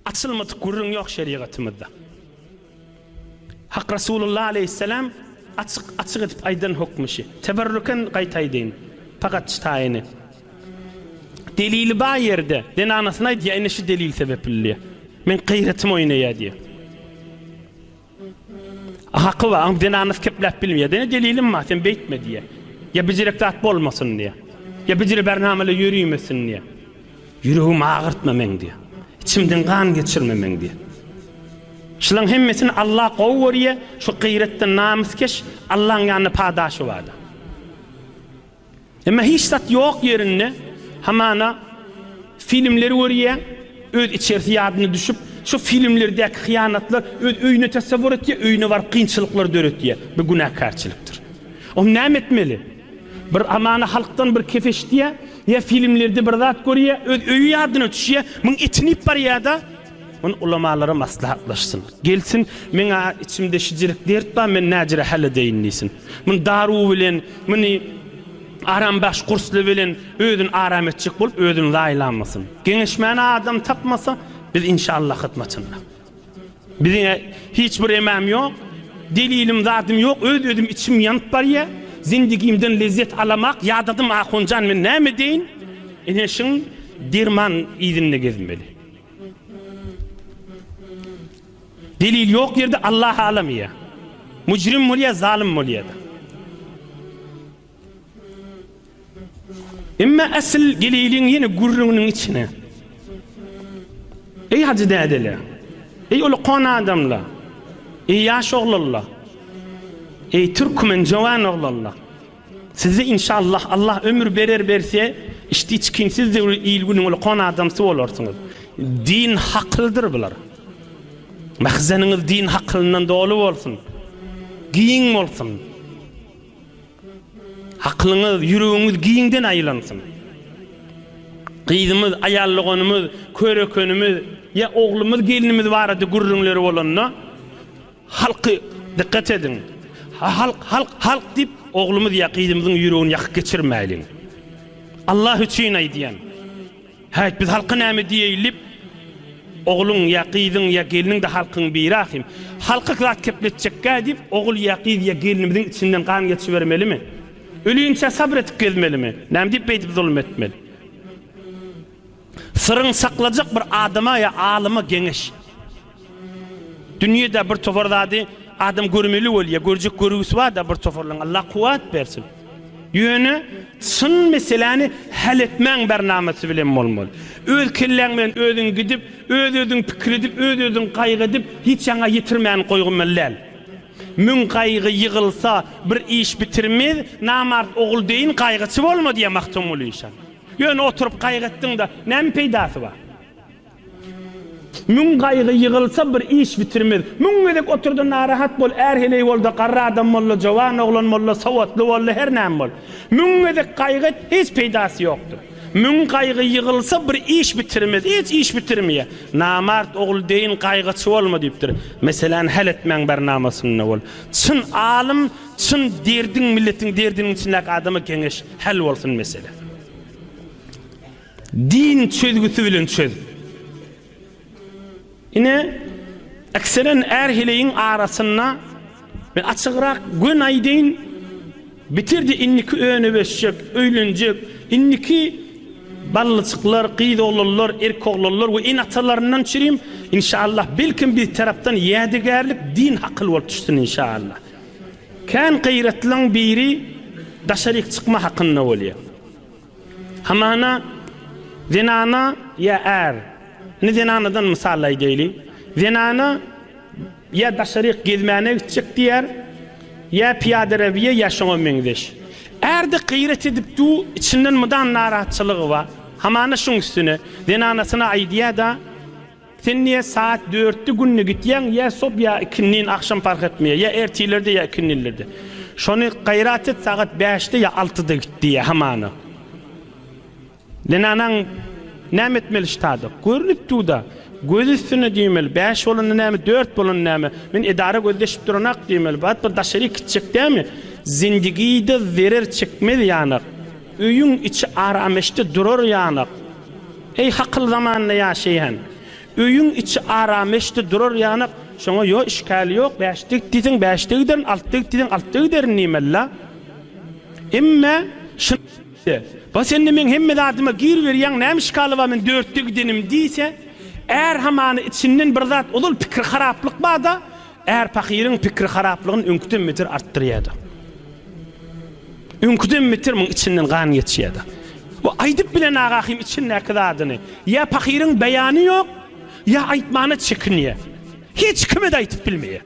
Açylmadyk gürrüň ýok şerigatymyzda. Hak Resulullah aleýhisselam açyk açyk edip aýdan hokmy şi. Teberrüken gaýtaýdyn. Pagat şi taýyny. Delili bar ýerde zenanasyna aýdýa ine şi delil sebepli diýe. Meň gyýratym oýnaýa diýe. Haky bar, aňrydan anys kepläp bilmeýär. Ýene delilim bar, sen beýtme diýýär. Ýa bijirek zat bolmasyn diýýär. Ýa bijire bärnamala ýörimesin diýýär. Ýüregimi agyrtma meň diýýär. Içimden gan geçirme meň diýýär. Şulaň hemmesini Alla gowy görýär, şu gyýratdan namyskeş Allaň ýanynda padaşy bardyr. Emma hiç zat ýok ýerinde hamana filmleri görýäň, öz içerisi ýadyna düşüp, şo filmlerdäki hyýanatlar öz öýüne tasawwur etýär, öýüne baryp kynçylyklar döretýär. Bu günäkärçilikdir. Onda näme etmeli? Bir hamana halkdan bir kep eşitýär, ýa filmlerde bir zat görýär, öz öýi ýadyna düşýär, muň etini iýip barýar-da, Muny ulamalara maslahatlaşsyn. Gelsin, men-ä içimde şijirik dert bar, men näjire häl edeýin diýsin. Muny daruw bilen, muny arambahş gursly bilen özüni aram etjek bolup, özüni zaýalamasyn. Geňeşmäne adam tapmasa, biz inşallah hyzmatynda. Biziň-ä hiç bir emäm ýok, delilim, zadym ýok, öz-özüm içim ýanyp barýar. Zindigimden lezzet alamak ýadadym, ahunjan, men näme edeýin? Ene şiň derman yzynda gezmeli. Delil ýok ýerde Allah halam ýa mujrim bolýa zalym bolýada. Emma asyl geleyliň ýene gürrüňiniň içine. Eý hajy dädele. Eý ol kon adamla. Eý ýaş oglalla. Eý türkmen jowan oglalla. Sizi inşallah Allah ömür berer berse işdi çikinsiz döwri il günüň ulkan adamsy bolarsyňyz. Din hakylydyr bular. Mahzeniňiz din hakylyndan doly bolsun. Giň bolsun. Hakylyňyz, ýüregiňiz giňden aýlansyn. Gyzymyz, aýal doganymyz, körekenimiz ýa oglumyz, gelnimiz barada gürrüňleri bolanda Halky dikkat ediň. Halk halk halk diyip oglumyz Yakizimiziň yüregini yakyp geçirmeyliň. Allah üçin aydyan. Hayt biz halka name diyeyilip ogluň ya gyzyň ya gelniň de halkyň biri ahim. Halka zat kepletjekka diyip ogul ya gyz ya gelnimiziň içinden gan geçibermelimi? Ölüyinçe sabr etip gezmelimi? Name diyip beydip zulum etmeli? Syryň saklajak bir adama ýa alyma geňeş. Dünýede bir topar zady adam görmeli bolýa, görjek görgüsi barda bir toparlaň Allah kuwat bersin. Ýöne çyn meseläni häl etmäň bernamasy bilen bolmaly. Öz kelläň bilen özüň gidip, öz özüň pikir edip, öz özüň gaýgy edip hiç ýaňa ýetirmäni goýgmaly däl. Müň gaýgy ýygylsa bir iş bitirmez, namart ogul deýin gaýgyçy bolma diýýär Magtymguly şa. Ýöne oturyp gaýgy etdiň-de, näme peýdasy bar? Müň gaýgy ýygylsa, bir iş bitirmez. Müň gezek otur-da, narahat bol, är heleý bol-da, garry adam bol-da, jowan oglan bol-da, sowatly bol-da, her näme bol. Müň gezek gaýgy et, hiç peýdasy ýokdur. Müň gaýgy ýygylsa, bir iş bitirmez. Hiç iş bitirmeýär. Namart ogul deýin gaýgyçy bolma diýipdir. Meseläni häl etmäň bernamasynda bol. Çyn alym Çyn derdiň milletiň derdiniň içindäki adama geňeş häl bolsun mesele. Din çözgüsi bilen çöz. Ine ekseren är heleýiň arasynda men açygrak gön aýdaýyn bitirdi indiki öne beşjek öýlenjek indiki ballyjyklar gyz oglanlar erk oglanlar we in atalaryndan çirim inşallah belkim bir tarapdan ýädegärlik din hakyl bolup düşsün inşallah. Kän gyratlyň biri daşaryk çykma hakynda bolýar. Hamana zenana ýa är, indi zenanadan mysal aýdaýly, zenana ýa daşaryk gezmäne gitjek diýer, ýa pyýadarabiýa ýa şoňa meňzeş. Ärde gyrat edip du, içinden mydam narahatçylygy bar. Hamana şuň üstüne zenanasyna aýdýar-da, Sen niye saat dörtde günde gitýäň ýa sob ýa ikindin agşam fark etmeýär ýa ertirlerde ýa ikindinlerde şony gaýrat et sagat bäşde ýa altyda git diýýär hamana zenanaň näme etmeli ştada görünip durda göz üstünde diýmeli bäş bolanda näme dört bolanda näme men edara gözleşip duranak diýmeli bat bir daşaryk gitjek dämi zindigide zerer çekmez ýanak öýüň içi arameşde durar ýanak. Eý, hakyl zamanynda ýaşaýan! Öýüň içi arameşdi durar ýanak, şoňa ýo işgäl ýok, bäşde git diýseň, bäşde giderin, altda git diýseň, altda giderin diýmeli-la. Emme, şyn-de, bas indi meň hemme zadyma gir berýäň, näme işgaly bar men dörtde gidenim diýse, är hamany içinden bir zat ozal pikir haraplyk bar-da, Är pahyryň pikiri haraplygyny öňküden beter artdyrýardy. Öňküden beter muň içinden gan geçýärdi. Bu aýdyp bilen Agahym içindäki zadyny. Ýa pahyryň beýany ýok, ýa aýtmana çekinýär. Hiç kime-de aýdyp bilmeýär.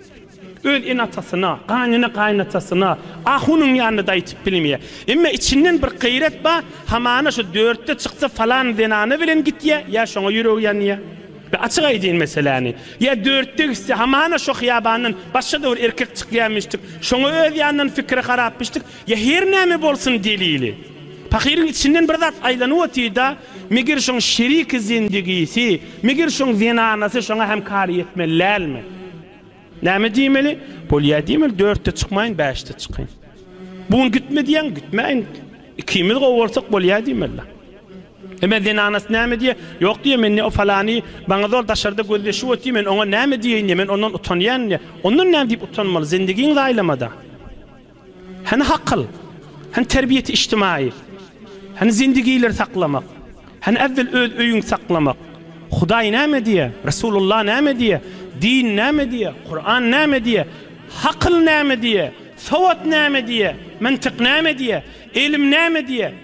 Öz ene-atasyna, gaýnene-gaýynatasyna, ahunyň ýanynda-da aýdyp bilmeýär. Emma içinden bir gaýrat bar, hamana şu dörtde çyksa falan zenana bilen gitýär, ýa şoňa ýüregi ýanýar. Be açyk aýdyn meseläni. Ýa dörtde gitse hamana şo hyýabandan başga-da bir erkek çykýamyşdyk, şoňa öz ýanyndan pikiri harapmyşdyk, ýa her näme bolsun delili. Pahyryň içinden bir zat aýlanyp otyrda, meger şoň şeriki zendigisi, meger şoň zenanasy şoňa hem kar ýetmeli dälmi? Näme diýmeli? Bolýa diýmeli, dörtde çykmaýyn, bäşde çykyn. Bu gün gitme diýýäň, gitmäýin. Ikimiz gowy bolsak bolýa diýmeli. Emma zenanasy näme diýer? Ýok diýer, men ne o falany, maňa zor daşarda gözleşip otyr, men oňa näme diýeýin-de, men ondan utanýan-da. Ondan näme diýip utanmaly, zendigiňi zaýalama-da. Hany hakyl? Hany terbiýeti içtimaýy? Hany zendigileri saklamak? Hany äwwel öz öýüňi saklamak? Hudaý näme diýer? Resulullah näme diýer? Din näme diýer? Kuran näme diýer? Hakyl näme diýer? Sowat näme diýer? Myntyk näme diýer? Ylym näme diýer?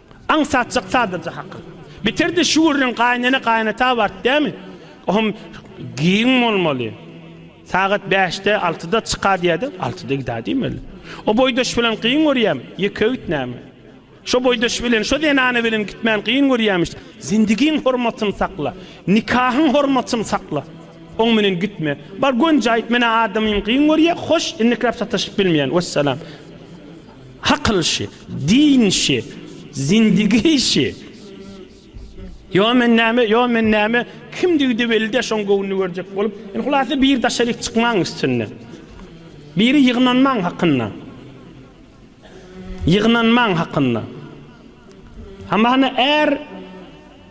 Aňsatjak sadaja hakyl. Bitirdi şu gürrüň gaýynene gaýynata bart dämi? Ohm giň bolmaly. Sagat bäşde, altyda çyka diýädi, altyda gidä diýmeli. O boýdaş bilen gyň görýämi? Ýeke git näme? Şo boýdaş bilen, şo zenana bilen gitmän gyň görýämiş. Zindigiň hormatyny sakla. Nikahyň hormatyny sakla. Oň bilen gitme. Bar gönje aýt, menä adamym gyň görýä, hoş, indikräp sataşyp bilmeýän. Wessalam. Akyl şi, din şi, zindigi şi. Ýo men näme, ýo men näme, kimdigi-de belli däl, şoň göwnüni görjek bolup, indi hulasa biri daşaryk çykmaň üstünde. Biri ýygnanmaň hakynda. Ýygnanmaň hakynda. Hamana är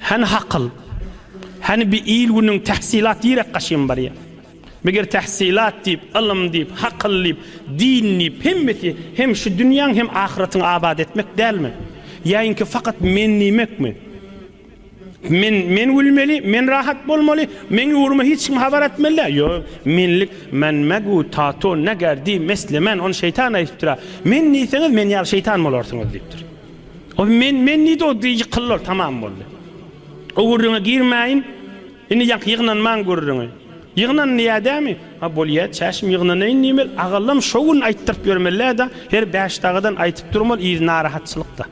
Hany hakyl? Hany bi il-günüň tähsilat direk gaşym barýa? Meger tähsilat diýip, ylym diýip, hakyl diýip, din diýip, hemmesi hem şu dünýäň hem ahyratyňy abat etmek dälmi? Ýaýinki fakat men diýmekmi? Men, men gülmeli, men rahat bolmaly, meň ugryma hiç kim habar etmeli däl. Ýo, menlik, men megu tato neger diý meslemen, ony şeýtan aýdypdyr-a. Men diýseňiz, men ýaly şeýtan bolarsyňyz diýipdir. Ol men, men diýdi, ol diýdi ýykyldylar, tamam boldy. O gürrüňe girmäýin, indi ýaňky ýygnanmaň gürrüňi. Ýygnan diýýä dämi? Ha bolýa, çäşim ýygnanaýyn diýmeli, agallam şo gün aýtdyryp ýörmelä-da, her Bäşdagadan aýtyp durmaly, yz narahatçylykda.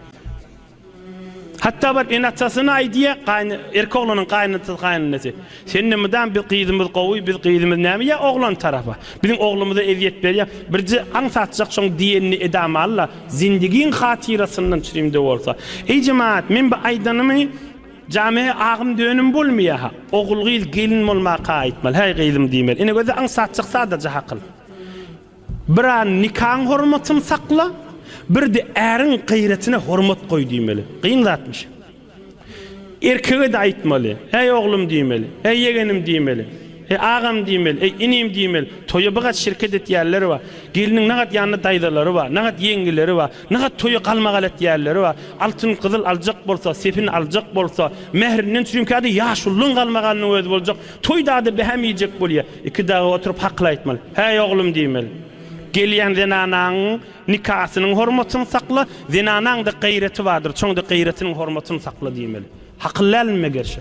Hatda baryp ene-atasyna aýdýa, gaýyn, erki oglanyň gaýynatasy, gaýynenesy. Sende mydam biz gyzymyz gowy biz gyzymyz näme ýa oglan tarapa biziň oglumyza ezýet berýä birje aň satjak şoň diýenini edama alla zindigiň hatyrasyndan çrimde bolsa eý jemaat men bu aýdanymy jame agym dönüm bolmýaha ogul gyz gelin bolmaka aýtmaly häý gyzym diýmeli ine göze aň satjak sadaja hakyl bir an nikaň hormatyn sakla birde äriň gyratyna hormat goý diýmeli gyň zatmyş. Erkege-de aýtmaly. Äý, oglum diýmeli. Äý, ýegenim diýmeli. Äý, agam diýmeli. Äý, inim diýmeli. Toýa bigat şirket etýänler bar. Gelniň nagat ýanynda daýzalary bar, nagat ýeňňeleri bar. Nagat toýa galmagal etýänleri bar. Altyn, gyzyl aljak bolsa, sepin aljak bolsa, mährinden çürimkä-de ýaşulynyň galmagalynyň özi boljak. Toýda-da behäm iýjek bolýar. Iki dagy oturyp hakyl aýtmaly. Äý, oglum diýmeli. Gelýän zenanaň Nikasynyň hormatyny sakla, zenanaňda gaýraty bardyr, şoňda gaýratynyň hormatyny sakla diýmeli. Hakyl dälmime gerşe?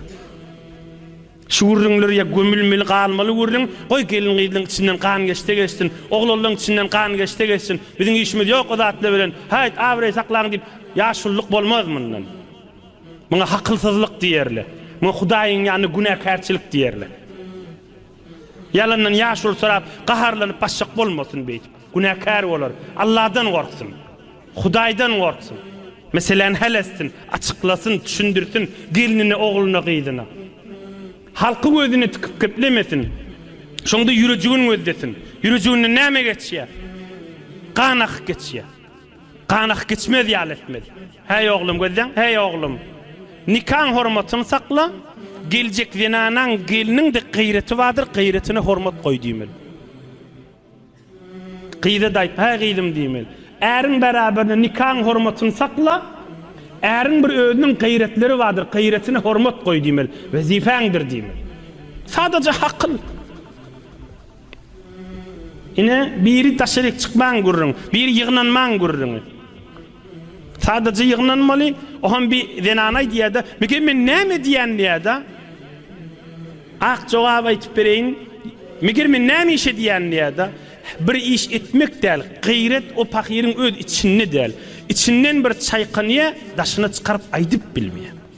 Şu gürrüňler ýa gömülmeli galmaly gürrüň, goý gelin-gyzlaň içinden gan geçse geçsin, oglanlaň içinden gan geçse geçsin, biziň işimiz ýok o zatlar bilen, haýt abraý saklaň diýip, ýaşulylyk bolmaz mundan. Muňa hakylsyzlyk diýerler. Muňa Hudaýyň ýanynda günäkärçilik diýerler. Ýalandan ýaşuly sorap, gaharlanyp basjak bolmasyn beýdip. Günäkär bolar. Alladan gorksun. Hudaýdan gorksun. Meseläni hal etsin, açyklasyn, düşündirsin gelnine, ogluna, gyzyna. Halky gözüne tikip geplemesin. Şonda ýürejigin gözlesin. Ýürejiginden näme geçýär? Gan akyp geçýär. Ganak geçmez ýaly etmez. Häý oglum, gözleň, häý oglum! Nikaň hormatyny sakla, geljek zenanaň, gelniň-de gyreti bardyr, gyretine hormat goý diýmeli. Gyza-da aýt, häý gyzym diýmeli, äriň bäraberine nikaň hormatyny sakla, äriň bir özüniň gyretleri bardyr, gyretine hormat goý diýmeli, wezipäňdir diýmeli. Sadaja hakyl. Ine, biri daşaryk çykmaň gürrüň, biri ýygnanmaň gürrüňi. Sadaja ýygnanmaly, oham bir zenan aýdýa-da, Meken men näme edýän diýä-da. Ak jogap aýtyp bereýin, Meger men näme iş edýän diýä-da. Bir iş etmek däl, gaýrat o pahyryň öz içinde däl. Içinden bir çaýkanýa, daşyna çykaryp aýdyp bilmeýä.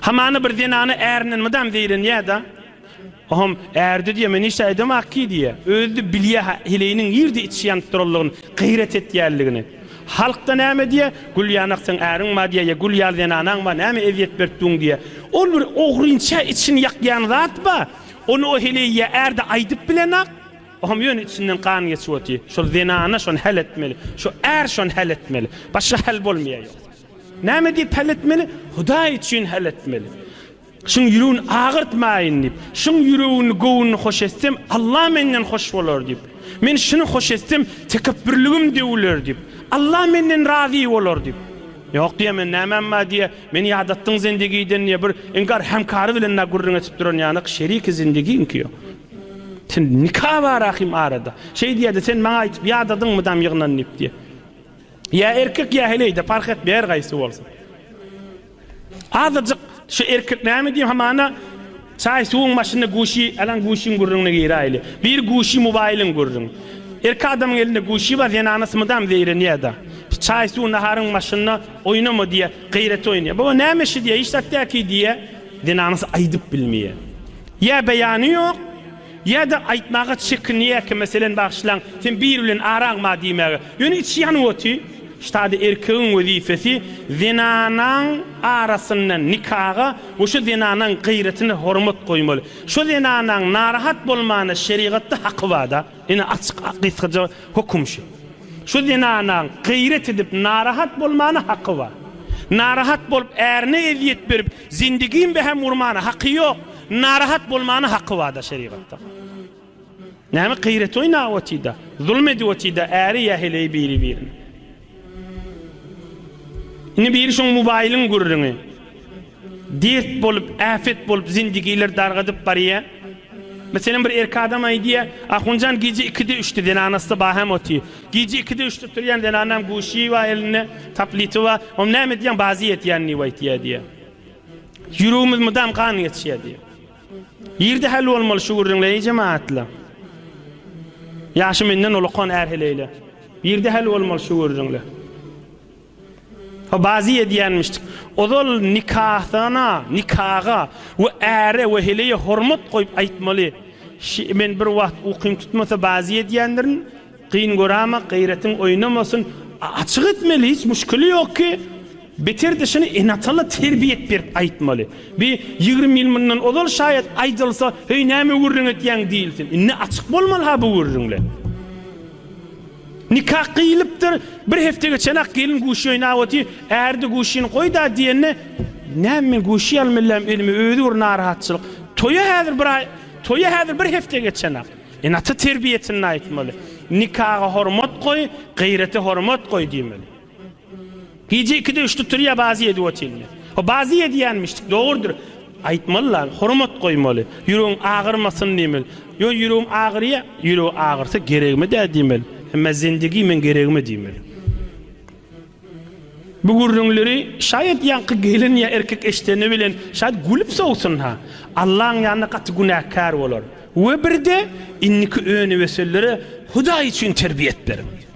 Hamana bir zenana ärinden mydam zeýrenýä-da, Ohom, ärde diýýä, men hiç-de aýdamok ki diýýä. Özi-de bilýä-hä heleýiniň nirde içişi ýanyp duranlygyny, gaýrat etýänligini. Halk-da näme diýýä, Gülýanak seň äriň bar diýýä ýa Gül ýaly zenanaň bar, näme ezýet berip duň diýýä. Ol bir ogrynça içini ýakýan zat bar, ony o heleý ýa ärde aýdyp bilenok, Ohom, ýöne içinden gan geçip otyr. Şol zenana şony häl etmeli, şu är şony häl etmeli. Başga häl bolmaýar ýogsa. Näme diýip hal etmeli? Hudaý üçin hal etmeli. Şuň ýüregini agyrtmaýyn diýip. Şuň ýüregini, göwnüni hoş etsem, Alla menden hoş bolar diýip. Men şuny hoş etsem, tekepbürligim döwüler diýip. Alla menden razy bolar diýip. Ýok diýýä men nämäm bar diýýä. Meni ýadatdyň zindegiden diýýä. Bir inkar hemkary bilen dagy gürrüň edip duran ýanak şeriki zindegiňki ýok. Sen nika bar ahim arada. Şeý diýýä-de sen maňa aýdyp ýadadyňmy dam ýygnan diýip diýýä. Ýa erkek ýa heleýde parh etmeýär gaýsy bolsa. Azajyk şu erkek näme diýýär hamana çaý suwuň başynda guşi alan guşiň gürrüňine giräýli. Bir guşi mobaýlyň gürrüň. Erkek adamyň elinde guşi bar zenana smydam zeýrenýärda. Çaý suw naharyň başynda oýnama diýýär gaýrat oýnaýar. Baba näme işi diýýär hiç zat däki diýýär. Zenanasy aýdyp bilmeýär. Ýa beýany ýok. Ýa-da aýtmaga çekinýärkä, meselem, Bagyşlaň, sen biri bilen araňma diýmäge. Ýöne içi ýanyp oty. Ştada erkegiň wezipesi zenanaň arasyndan nikaga we şo zenanaň gaýratyna hormat goýmaly. Şo zenanaň narahat bolmana şerigatda haky bar-da. Ine, açyk, gysgaja höküm şu. Şo zenanaň gaýrat edip narahat bolmana haky bar. Narahat bolup, ärine ezýet berip, Zindigim be hem urmana haky yok, narahat bolmana haky bada şerigatda. Näme gyrat oýnap otida, zulm edip otida äri ýa heleýi biri birine. Indi biri şoň mobaýlyň gürrüňi. Dert bolup, äpet bolup zindigiler dargadyp barýa. Meselem bir erkek adam aýdýa, Ahunjan gije 2-de 3-de zenanasy ba hem oty. Gije ikide üçde turýan zenanam Guşýewa elinde taplitowa Oň näme edýäň bazy ýetýän diýip aýtýa diýýä. Ýüregimiz mydam gan geçýä diýýä. Ýerde häl bolmaly şu gürrüňler eý jemagatlar. Ýaşy menden ulakan är heleýler. Ýerde häl bolmaly şu gürrüňler. Bazy edýänmişdik. Ozal nikahana, nikaga we äre we heleýe hormat goýup aýtmaly. Şi, men bir wagt ukym tutmasa bazy edýändirin. Gyn göräma, gaýratyň oýnamasyn. Açyk etmeli, hiç muşkili ýok ki. Beter-de şuny ene-atala terbiýet berip aýtmaly. Bi ýigrimi ýyl mundan ozal şaýat aýdylsa, heý näme gürrüň etýäň diýilsin. Indi açyk bolmaly-ha bu gürrüňler. Nikah gyýylypdyr, bir hepde geçenak gelin guşy oýnap otyr, äri-de guşyny goý-da diýende, Näme men guşy ýalym elläm, özüme özi bir narahatçylyk. Toýa häzir bir aý, toýa häzir bir hepde geçenak. Ene-ata terbiýesinde aýtmaly, Nikaga hormat goý, gyrete hormat goý diýmeli. Gije ikide üçde turýa bazy edip otyrmy? O bazy edýänmişdik, dogrudyr. Aýtmaly lan, hormat goýmaly. Ýüregiň agyrmasyn diýmeli. Ýöne ýüregim agyrýa, ýüregi agyrsa geregime-dä diýmeli. Emma zindigi meň geregime diýmeli. Bu gürrüňleri şaýat ýaňky gelin ýa erkek eşideni bilen şaýat gülüp sowsun-ha. Allaň ýanynda gaty günäkär bolar. We birde indiki öni-wesellere Hudaý üçin terbiýet beriň.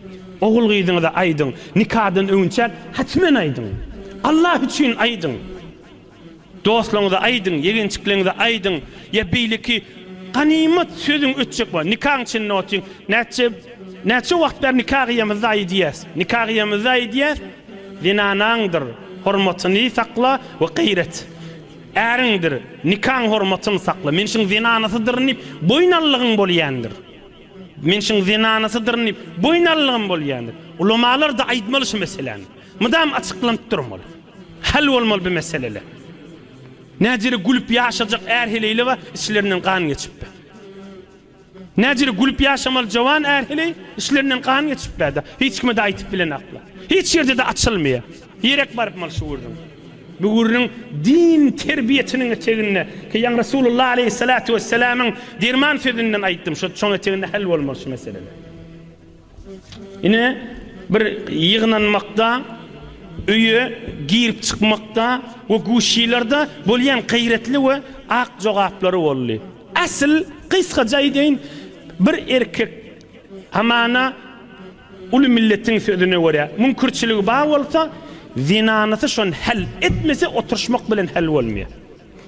Ogul-gyzyňyza aýdyň, nikadan öňünçäk hatmen aýdyň. Allah üçin aýdyň. Dostlaryňyza aýdyň, ýegençikleriňize aýdyň. Ýa beýleki ganymat sözüň ötjek bolsa, nikaň içinde otyň. Näçe näçe wagt bäri nika gyýamyzda aýdýas. Nika gyýamyzda aýdýas, Zenanaňdyr hormatyny sakla we gaýrat. Äriňdir nikaň hormatyny sakla. Men şuň zenanasydyryn diýip, boýun allygyň bolýandyr. Men şuň zenanasydyryn diýip, boýun alylygym bolýandyr. Ulamalar-da aýtmaly şu meseläni. Mydam açyklanyp durmaly. Hal bolmaly bu meseleler. Näjere gülüp ýaşajak är-heleýle bar, içlerinden gan geçip bar. Näjere gülüp ýaşamaly jowan är-heleý, içlerinden gan geçip bar-da, hiç kime-de aýtyp bilenaklar. Hiç ýerde-de açylmaýar. Direk baryp mal şu gürrüň. Bu gürrüň din terbiýesiniň eteginde ki ýaňy Resulullah aleýhissalatu wessalamyň derman sözünden aýtdym şo çoň eteginde hal bolmaly şu meseleler. Ine bir ýygnanmakda öýe girip çykmakda we guşilerde bolýan gaýratly we ak jogaplary boldy. Asl gysgaca aýdaýyn bir erkek Hamana uly milletiň sözüne görä, müňkürçiligi bar bolsa, zenanysy şony häl etmese, oturyşmak bilen häl bolmaýar.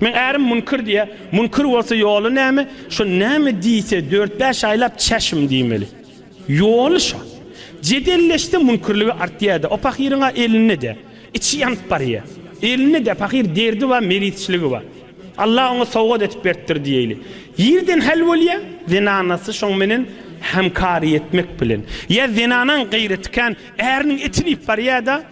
Meň ärim müňkür diýýär. Müňkür bolsa ýoly näme? Şo näme diýse, dört-bäş aýlap çäşim diýmeli. Ýoly şo. Jedelleşse müňkürligi artýar-da. O pahyryň-a elinde-de. Içi ýanyp barýar. Elinde-de pahyr derdi bar, meritçiligi bar. Allah oňa sowgat edip beripdir diýeýli. Ýerden häl bolýar, zenanasy şoň menen hämkary etmek bilen. Ýa zenanaň gaýraty kän, äriniň etini iýip barýar-da,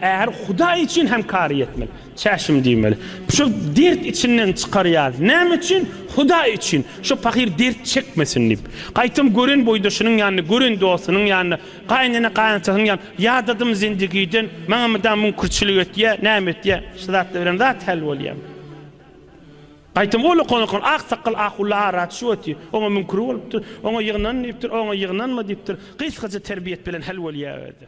äri Hudaý üçin hämkary etmeli. Çäşim diýmeli. Şo dert içinden çykarýar. Näme üçin? Hudaý üçin. Şo pahyr dert çekmesin diýip. Gaýtam gören boýdaşynyň ýanynda, gören dostunyň ýanynda Gaýynene gaýynatasyny ýan ýadadym zindigiden maňa mydam müňkürçilik etýä näme etýä şu zatlar bilen zat häl bolýam. Gaýtam ol okan-okan ak sakgal ahulla ara düşüp otyr oňa müňkür bolupdyr oňa ýygnan diýipdir oňa ýygnanma diýipdir gysgaja terbiýet bilen häl bolýa özi.